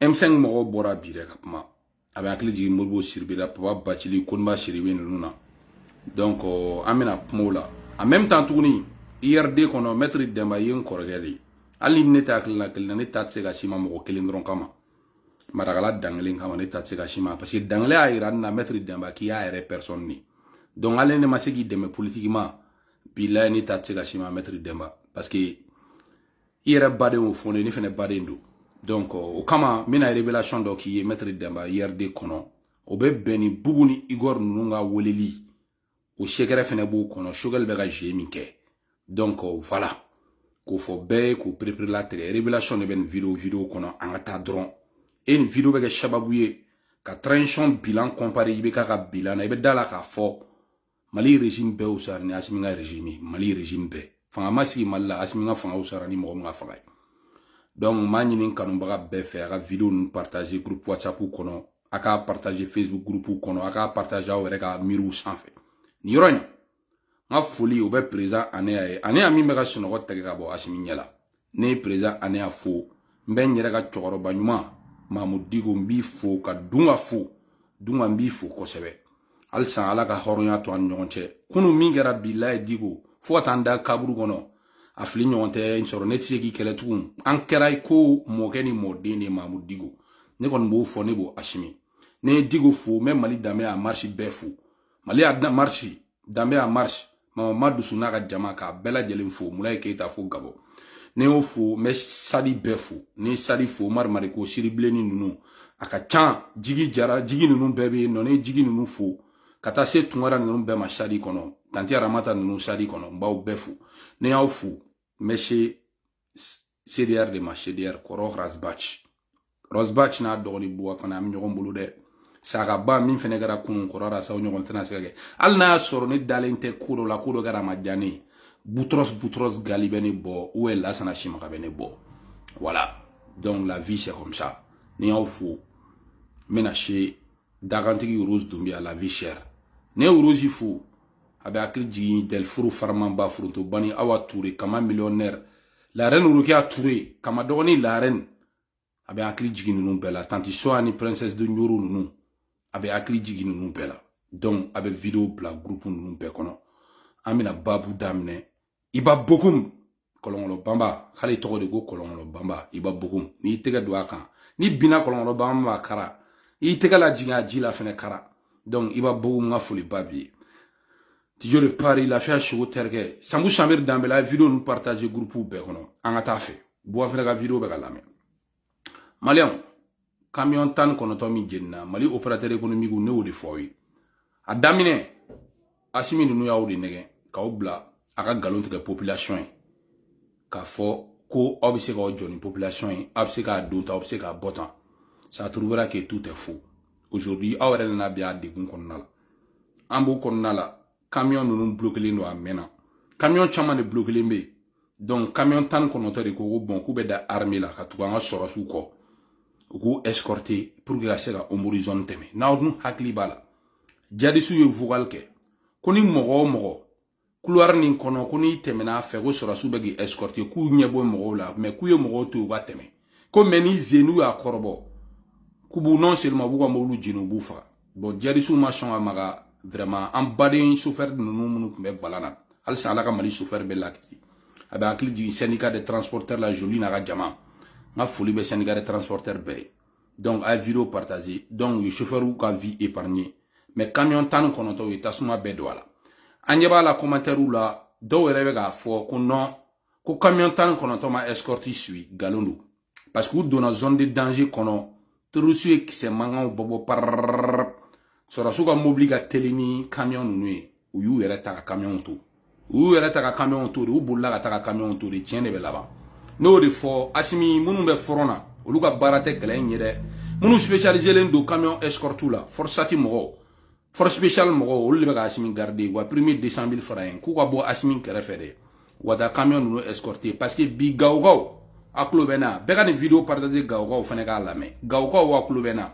M5 mɔgɔw bɔra bi dɛ ka kuma a bɛ hakili jigin modibo sidibe la papa bacili koniba sidibe ninnu na donc euh, an bɛna kuma o la en même temps tuguni URD kɔnɔ maître dɛnba ye n kɔrɔkɛ de ye hali ni ne tɛ hakilina kelen na ne da tɛ se ka s'i ma mɔgɔ kelen dɔrɔn kama marakala dankelen kama ne da tɛ se ka s'i ma parce que dankelen y'a yira ne na maître dɛnba k'i y'a yɛrɛ personne de donc hali ne ma se k'i dɛmɛ politiquement bilayi ne da tɛ se ka s'i ma maître dɛnba parce que i yɛrɛ baden y'o fɔ ne ne fɛnɛ baden don donc o kama n bɛna révélation dɔ k'i ye maître dɛnba URD kɔnɔ o bɛ bɛn ni bubu ni igor ninnu ka weleli o secret fɛnɛ b'o kɔnɔ sogɛli bɛ ka jeu min kɛ donc voilà k'o fɔ bɛɛ ye k'o pereperelatigɛ révélation de bɛ nin video video kɔnɔ an ka taa dɔrɔn e nin video bɛ kɛ sababu ye ka transition bilan comparer IBK ka bilan na i bɛ da a la k'a fɔ mali régime bɛɛ wusara ni asimi ka régime mali régime bɛɛ fanga ma sigi mali la asimi ka fanga wusara ni mɔgɔ min ka fanga ye donc n b'a ɲini kanubaga bɛɛ fɛ a ka video ninnu partager groupe whatsapp kɔnɔ a ka partager facebook groupe kɔnɔ a ka partager aw yɛrɛ ka mur sanfɛ nin yɔrɔ in n ka foli o bɛ président anea ye anea min bɛ ka sunɔgɔ tɛgɛ ka bɔ asimi ɲɛ la ne ye président anea fo n bɛ n yɛrɛ ka cɛkɔrɔba ɲuman mamu diko n b'i fo ka dunka fo dunka n b'i fo kosɛbɛ halisa ala ka hɔrɔnya to an ɲɔgɔn cɛ kunu min kɛra bilayi diko fo ka taa n da kaburu kɔnɔ a fili ɲɔgɔn tɛ n sɔrɔ ne tɛ se k'i kɛlɛ tugun an kɛra i ko mɔkɛ ni mɔden de mamu diko ne kɔni b'o fɔ ne b'o asimi ne ye diko fo n bɛ mali danbe en marche bɛɛ fo mali en marche danbe en marche mama ma dusu n'a ka jama k'a bɛɛ lajɛlen fo mulaye keyita fo gabɔn ne y'o fo n bɛ sadi bɛɛ fo ne ye sadi fo umar mariko siribilenni ninnu a ka can jigi jara jigi ninnu bɛɛ bɛ yen nɔ ne ye jigi ninnu fo ka taa se tunkara ninnu bɛɛ ma sadi kɔnɔ tanti aramata ninnu sadi kɔnɔ n b'aw bɛɛ fo ne y'aw fo n bɛ se CDR de ma CDR kɔrɔ Ras Bath Ras Bath n'a dɔgɔnin Boua fana an bɛ ɲɔgɔn bolo dɛ sagaba min fana kɛra kunun kɔrɔ la sa o ɲɔgɔn tɛna se ka kɛ hali n'a y'a sɔrɔ ne dalen tɛ ko dɔ la ko dɔ kɛra a ma diya ne ye butros butros gali bɛ ne bɔ ou lasana simaka bɛ ne bɔ voilà donc la vie c'est comme ça ne y'aw fo n bɛna se dakantigi rose dunbiya la vie chère ne ye rose fo a bɛ hakili jigin dɛlifuru faramanba foronto bani awa ture kama millionnaire la reine rokiya ture kama dɔgɔnin la reine a bɛ hakili jigin ninnu bɛɛ la tanti soya ni princesse de ɲoro ninnu a bɛ hakili jigin ninnu bɛɛ la donc a bɛ video bila groupe ninnu bɛɛ kɔnɔ an bɛna babu daminɛ iba bokum kɔlɔnkɔlɔ banba hali tɔgɔ de ko kɔlɔnkɔlɔ banba iba bokum n'i tɛgɛ don a kan ni binna kɔlɔnkɔlɔ banba ma kara i tɛgɛ la jigin a ji la fɛnɛ kara donc iba bokum ka foli ba bi tijo de paris lafiya sogo terikɛ sanbu samiri danbɛla video ninnu partager groupe bɛɛ kɔnɔ an ka taa fɛ buwa fɛnɛ ka video bɛ ka lamɛn maliyɛnw kamiyɔn tan ni kɔnɔntɔn min jenina mali operatɛri ekonomikiw ne y'o de fɔ aw ye a daminɛ asimi ninnu y'aw de nɛgɛn k'aw bila aw ka nkalon tigɛ popilasiyɔn ye k'a fɔ ko aw bɛ se k'aw jɔ ni popilasiyɔn ye aw bɛ se k'a don tan aw bɛ se k'a bɔ tan ça trouvera que tout est faux aujourd'hui aw yɛrɛ nana bin a degun kɔnɔna la an b'o kɔnɔna la kamiyɔn ninnu bloquelen don a mɛnna kamiyɔn caman de bloquelen bɛ yen donc kamiyɔn tan ni kɔnɔntɔn de ko ko bɔn k'u bɛ da arme la ka tugu an ka sɔrɔsiw kɔ u k'u escorte pour que ka se ka ɔnbori zone tɛmɛ n'aw dun hakili b'a la jadisiw ye vocal kɛ ko ni mɔgɔ o mɔgɔ couloir nin kɔnɔ ko n'i tɛmɛna a fɛ ko sɔrɔsiw bɛ k'i escorte k'u ɲɛ b'o mɔgɔw la mais k'u ye mɔgɔw to yen u ka tɛmɛ ko mais ni zenu y'a kɔrɔbɔ k'u b'u non seulement b'u ka mobili jeni u b'u faga bɔn jadisiw ma sɔn ka maga vraiment an baden sofɛri ninnu minnu tun bɛ volant na halisa ala ka mali sofɛri bɛɛ lakisi a bɛ hakili jigin syndicat de transporteur la joli n'a ka jama n ka foli bɛ syndicat de transporteur bɛɛ ye donc a ye video partage donc u ye sofɛriw ka vie épargné mais camion tan ni kɔnɔntɔn u ye tasuma bɛɛ don a la an ɲɛ b'a la commentairw la dɔw yɛrɛ bɛ k'a fɔ ko non ko camion tan ni kɔnɔntɔn ma escorte si nkalon don parce que u donna zone de danger kɔnɔ terroriste ye kisɛ mankanw bɔbɔ parrrr sɔrɔdasiw ka mobili ka teli ni camion ninnu ye u y'u yɛrɛ ta ka camion to u y'u yɛrɛ ta ka camion to de u bolila ka ta ka camion to de tiɲɛ de bɛ laban n'o de fɔ asimi minnu bɛ front na olu ka baara tɛ kɛlɛ in ye dɛ minnu spécialiselen don camion escorte la forsati mɔgɔw force spéciale mɔgɔ olu de bɛ ka asimi garde wa prime ye deux cent mille franc ye k'u ka bɔ asimi kɛrɛfɛ de wa taa camion ninnu escorte parce que bi gawokaw aw tulo bɛ n na bɛɛ ka nin video partage gawokaw fana k'a lamɛn gawokaw aw tulo bɛ n na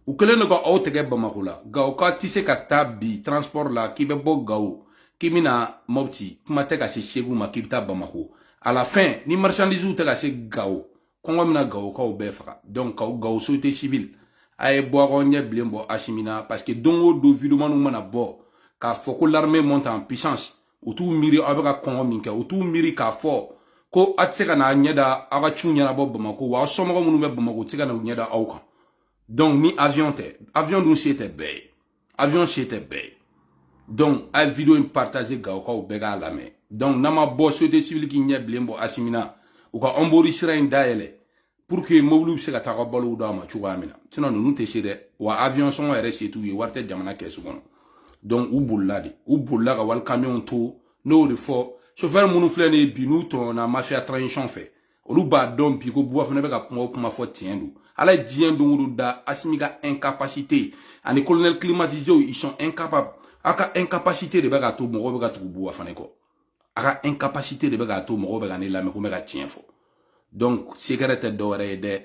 u kɛlen don ka aw tɛgɛ bamako la gawoka tɛ se ka taa bi transport la k'i bɛ bɔ gawo k'i bɛ na mɔpti kuma tɛ ka se segu ma k'i bɛ taa bamako à la fin ni marchandise tɛ ka se gawo kɔngɔ bɛna gawokaw bɛɛ faga donc gawo société civile a ye bɔ k'aw ɲɛ bilen bɔ asimi na parce que don o don videomaniw mana bɔ k'a fɔ ko l'armée monte en puissance u t'u miiri aw bɛ ka kɔngɔ min kɛ u t'u miiri k'a fɔ ko aw tɛ se ka n'a ɲɛ da aw ka ciw ɲɛnabɔ bamako wa aw somɔgɔ minnu bɛ bamako u tɛ se ka na u ɲɛ da aw kan donc ni avion tɛ avion dun se tɛ bɛɛ ye avion se tɛ bɛɛ ye donc a ye video in partage gawokaw bɛɛ k'a lamɛn donc n'aw ma bɔ société civile k'i ɲɛ bilen bɔ asimi na u ka ɔnbori sira in dayɛlɛ pour que mobiliw bɛ se ka taa ka balow d'a ma cogoya min na sinon ninnu tɛ se dɛ wa avion sɔngɔ yɛrɛ se t'u ye wari tɛ jamana kɛsu kɔnɔ donc u bolila de u bolila ka wali kamiyɔnw to n'o de fɔ chauffeur minnu filɛ nin ye bi n'u tɔɲɔna mafia transition fɛ olu b'a dɔn bi ko buba fane bɛ ka kuma o kuma fɔ tiɲɛ don ala ye diɲɛ don o don da asimi ka incapacité ani colonel climatiséw ils sont incapables a ka incapacité de bɛ k'a to mɔgɔw bɛ ka tugu buba fane kɔ a ka incapacité de bɛ k'a to mɔgɔw bɛ ka ne lamɛn ko n bɛ ka tiɲɛ fɔ donc sekɛrɛ tɛ dɔwɛrɛ ye dɛ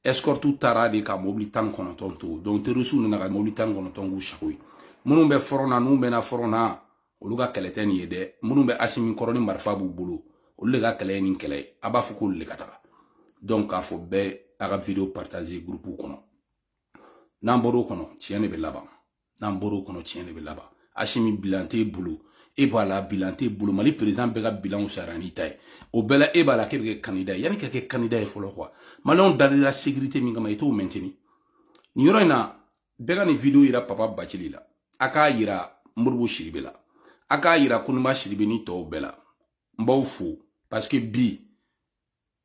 escorte taara de ka mobili tan ni kɔnɔntɔn to donc terrorisiw nana ka mobili tan ni kɔnɔntɔn k'u sago ye minnu bɛ fɔrɔn na n'u mɛnna fɔrɔn na olu ka kɛlɛ tɛ nin ye dɛ minnu bɛ asimi kɔrɔ ni marifa b'u bolo olu de ka kɛlɛ ye nin kɛlɛ ye a b'a fɔ k'olu de ka taga donc a fɔ bɛɛ a ka video partager gurupuw kɔnɔ n'an bɔr'o kɔnɔ tiɲɛ de bɛ laban n'an bɔr'o kɔnɔ tiɲɛ de bɛ laban asimi bilan t'e bolo e b'a la bilan t'e bolo mali perezidan bɛɛ ka bilanw sara n'i ta ye o bɛɛ la e b'a la k'e bɛ kɛ kandida ye yanni ka kɛ kandida ye fɔlɔ quoi maliyɛnw dal'i la sekirite min kama i t'o mɛnteni nin yɔrɔ in na bɛɛ ka nin video yira papa bacili la a k'a yira modibo sidibe la a k'a yira konimba sidibe ni tɔw bɛɛ la n b'aw fo parce que bi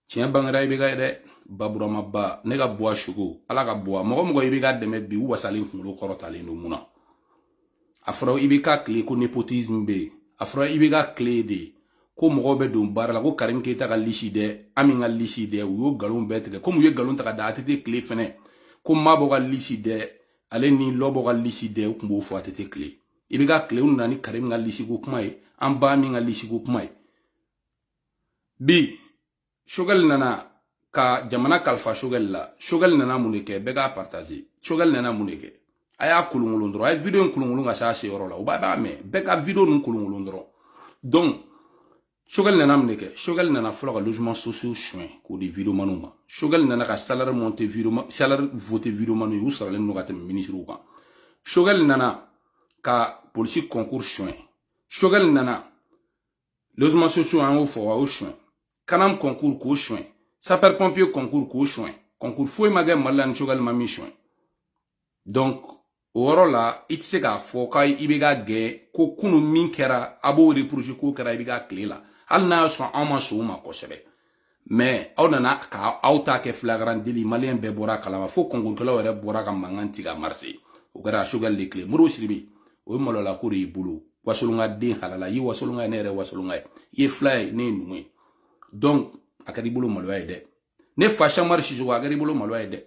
tiɲɛ bangera ibeka ye dɛ ba buramaba ne ka buwa choco ala ka buwa mɔgɔ mɔgɔ ibeka dɛmɛ bi u wasalen kunkolo kɔrɔtalen don mun na a fɔra ibeka tile ko nepotisme bɛ yen a fɔra ibeka tile de ko mɔgɔw bɛ don baara la ko karim keyita ka lisi dɛ ami ka lisi dɛ u y'o nkalon bɛɛ tigɛ komi u ye nkalon ta ka da atete tile fɛnɛ ko mabɔ ka lisi dɛ ale ni lɔbɔ ka lisi dɛ u tun b'o fɔ atete tile ibeka tile u nana ni karim ka lisiko kuma ye an ba ami ka lisiko kuma ye bi sogɛli nana ka jamana kalifa sogɛli la sogɛli nana mun de kɛ bɛɛ k'a partaze sogɛli nana mun de kɛ a y'a kolonkolon dɔrɔn a ye video in kolonkolon ka se a seyɔrɔ la u b'a b'a mɛn bɛɛ ka video ninnu kolonkolon dɔrɔn donc sogɛli nana mun de kɛ sogɛli nana fɔlɔ ka logements sociaux suɲɛ k'o di videomaniw ma sogɛli nana ka salaire monter videoma salaire voter videomaniw ye u saralen don ka tɛmɛ minisiriw kan sogɛli nana ka polisi concours suɲɛ sogɛli nana logements sociaux an y'o fɔ a y'o suɲɛ kanam concours k'o suɲɛ sapeur pompier concours k'o suɲɛ concours foyi ma kɛ mali la ni sogɛli ma min suɲɛ donc o yɔrɔ la i tɛ se k'a fɔ k'a ye ibeka gɛn ko kunu min kɛra a b'o reprocher k'o kɛra ibeka tile la hali n'a y'a sɔrɔ anw ma sɔn o ma kosɛbɛ mais aw nana ka aw ta kɛ flagrant délit maliyɛn bɛɛ bɔr'a kalama fo kɔnkurukɛlaw yɛrɛ bɔra ka mankan ci ka marse o kɛra sogɛli de tile modibo sidibe o ye malola ko de y'i bolo wasolonka den halala i ye wasolonka ye ne yɛrɛ wasolonka ye i ye fila ye ne ye numu ye donc a kɛra i bolo maloya ye dɛ ne fa cheick oumar sisoko a kɛra i bolo maloya ye dɛ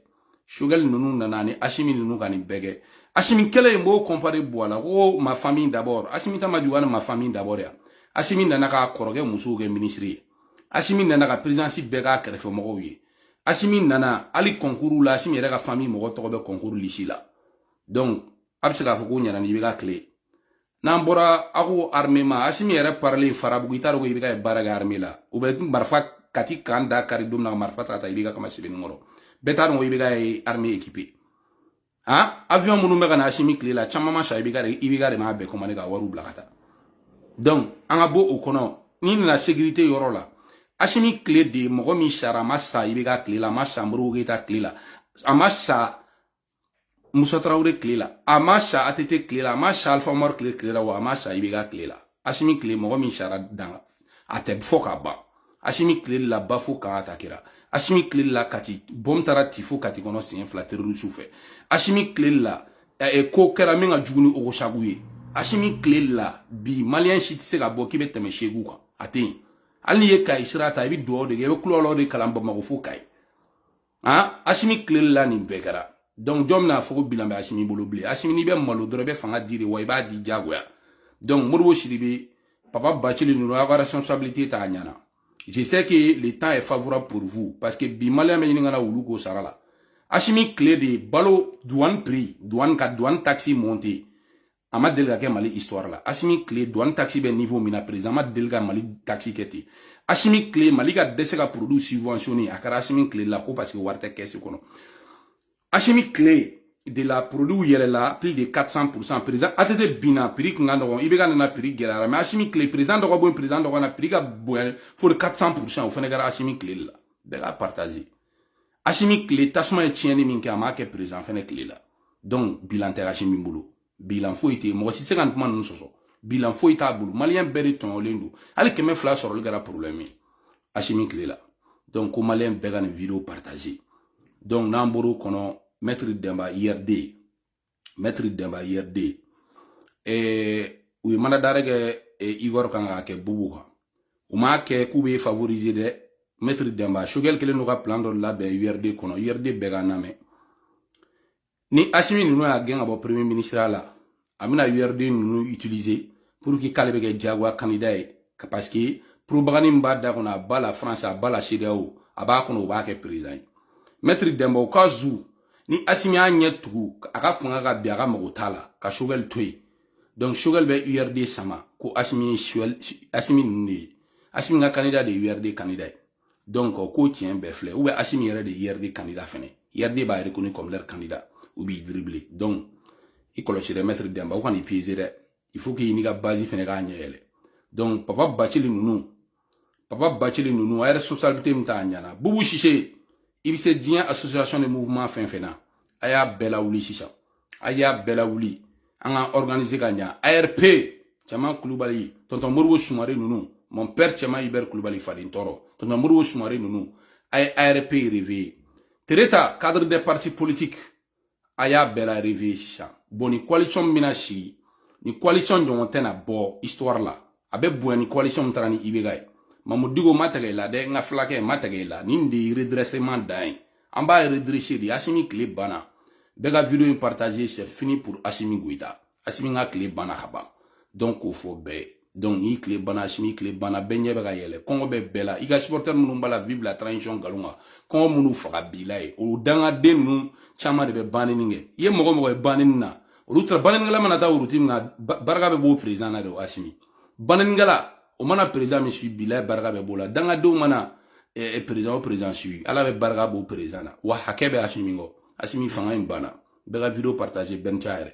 sogɛli ninnu nana ni asimi ninnu ka nin bɛɛ kɛ asimi tile n b'o kɔnpare buwa la ko ma famille d'abord asimi ta ma juguya ni ma famille d'abord ye wa asimi nana k'a kɔrɔkɛ musow kɛ minisiri ye asimi nana ka perezidansi bɛɛ k'a kɛrɛfɛ mɔgɔw ye asimi nana hali kɔnkuru la asimi yɛrɛ ka famille mɔgɔ tɔgɔ bɛ kɔnkuru lisi la donc a bɛ se k'a fɔ k'o ɲana ni ibeka tile n'an bɔra a ko arme ma asimi yɛrɛ parler farabugu i t'a dɔn ko IBK baara kɛ arme la u bɛ marifa kati camp da kari don min na marifa ta ka taa IBK kama sebenikɔrɔ bɛɛ t'a dɔn ko IBK arme équipé han avion minnu bɛ ka na asimi tile la caman ma san IBK de IBK de m'a bɛɛ commandé ka wariw bila ka taa donc an ka bɔ o kɔnɔ n'i nana sécurité yɔrɔ la asimi tile de mɔgɔ min sara a ma sa IBK tile la a ma sa modibo keyita tile la a ma sa Musa Tarawele tile la a ma sa ATT tile la a ma sa Alifa Umaru tile tile la wa a ma sa IBK tile la Asimi tile mɔgɔ min sara dan a tɛ fɔ ka ban Asimi tile la Bafo camp atakera Asimi tile la Kati bɔm taara ti fo Kati kɔnɔ siɲɛ fila terorisiw fɛ Asimi tile la eh, ko kɛra min ka jugu ni Ogosagu ye Asimi tile la bi maliyɛn si tɛ se ka bɔ k'i bɛ tɛmɛ Segu kan a tɛ yen hali n'i ye Kayi sira ta i bɛ dugawu de kɛ i bɛ kulɔlɔ de kalan Bamakɔ fo Kayi han asimi tile de la nin bɛɛ kɛra donc jɔn bɛna fɔ ko bilan bɛ asimi bolo bilen asimi n'i bɛ malo dɔrɔn i bɛ fanga di de wa i b'a di diyagoya donc modibo sidibe papa bacili ninnu aw ka responsabilité t'a ɲana je sais que le temps est favorable pour vous parce que bi maliyɛn bɛ ɲini ka na wulu k'o sara la asimi tile de balo douane prix douane ka douane taxe monté a ma deli ka kɛ mali histoire la asimi tile douane taxe bɛ niveau min na président ma deli ka mali taxe kɛ ten asimi tile mali ka dɛsɛ ka produit subventionné a kɛra asimi tile la ko parce que wari tɛ kɛsi kɔnɔ asimi tile de la produit yɛlɛla plus de 400 pourcent président att binna prix tun ka nɔgɔn IBK nana prix gɛlɛyara mais asimi tile président dɔ ka bɔ président dɔ ka na prix ka bonya fo de 400 pourcent o fana kɛra asimi tile de la bɛɛ k'a partager asimi tile tasuma ye tiɲɛni min kɛ a m'a kɛ président fɛnɛ tile la donc bilan tɛ asimi bolo bilan foyi tɛ yen mɔgɔ si tɛ se ka nin kuma ninnu sɔsɔ bilan foyi t'a bolo maliyɛn bɛɛ de tɔɲɔlen don hali kɛmɛ fila sɔrɔli kɛra problème ye asimi tile la donc ko maliyɛn bɛɛ ka nin video partage donc n'an bɔr'o kɔnɔ mɛtiri dɛnba urd mɛtiri dɛnba urd u ye mandat d'arrêt kɛ igor kan k'a kɛ bubu kan u m'a kɛ k'u b'i favoriser dɛ mɛtiri dɛnba shogɛli kelen don ka plan dɔ labɛn urd kɔnɔ urd bɛɛ ka n lamɛn ni asimi ninnu y'a gɛn ka bɔ premier ministre la a bɛna urd ninnu utiliser pour que k'ale bɛ kɛ jagoya candidat ye parce que propagande min b'a da kɔnɔ à bas la france à bas la cedeao a b'a kɔnɔ u b'a kɛ président ye mɛtiri dɛnba u ka zu ni asimi y'a ɲɛ tugu a ka fanga ka bin a ka mago t'a la ka shogɛli to yen donc shogɛli bɛ urd sama ko asimi ye asimi ninnu de ye asimi ka kandida de ye urd kandida ye donc ko tiɲɛ bɛɛ filɛ ou bien asimi yɛrɛ de ye urd kandida fɛnɛ urd b'a reconnu comme leur candidat u b'i dribbler donc i kɔlɔsi dɛ mɛtiri dɛnba u kana i piéger dɛ il faut k'i n'i ka base fɛnɛ k'a ɲɛ yɛlɛ donc papa bacili ninnu papa bacili ninnu a ye responsabilité min t'a ɲana bubu sise i bɛ se diɲɛ association de mouvement fɛn fɛn na a y'a bɛɛ lawuli sisan a y'a bɛɛ lawuli an ka organiser ka ɲa arp cɛman kulubali tɔntɔn modibo sumare ninnu mon père cɛman ibɛri kulubali faden tɔɔrɔ tɔntɔn modibo sumare ninnu a ye arp réveiller tereta cadre des partis politiques a y'a bɛɛ la réveiller sisan bon ni coalition min bɛna sigi ni coalition ɲɔgɔn tɛna bɔ histoire la a bɛ bonya ni coalition min taara ni ibeka ye mamud diko ma tɛgɛ i la dɛ n ka filakɛ ma tɛgɛ i la nin de ye redressement dan ye an b'a redresser de asimi tile banna bɛɛ ka video in partager c'est fini pour asimi goyita asimi ka tile banna ka ban donc k'o fɔ bɛɛ ye donc n'i tile banna asimi tile banna bɛɛ ɲɛ bɛ ka yɛlɛ kɔngɔ bɛ bɛɛ la i ka supporter minnu b'a la vive la transition nkalon kan kɔngɔ minnu faga bilayi o dangaden ninnu caman de bɛ banni kɛ i ye mɔgɔ mɔgɔ ye banni na olu taara bannikɛla mana taa wurutigi min na barika bɛ b'o président na de o asimi bannikɛla o mana président min suivre bilayi barika bɛ b'o la dangadenw mana président o président suivre ala bɛ barika b'o président na wa hakɛ bɛ asimi kɔ asimi fanga in banna bɛɛ ka video partager bɛɛ ni ca yɛrɛ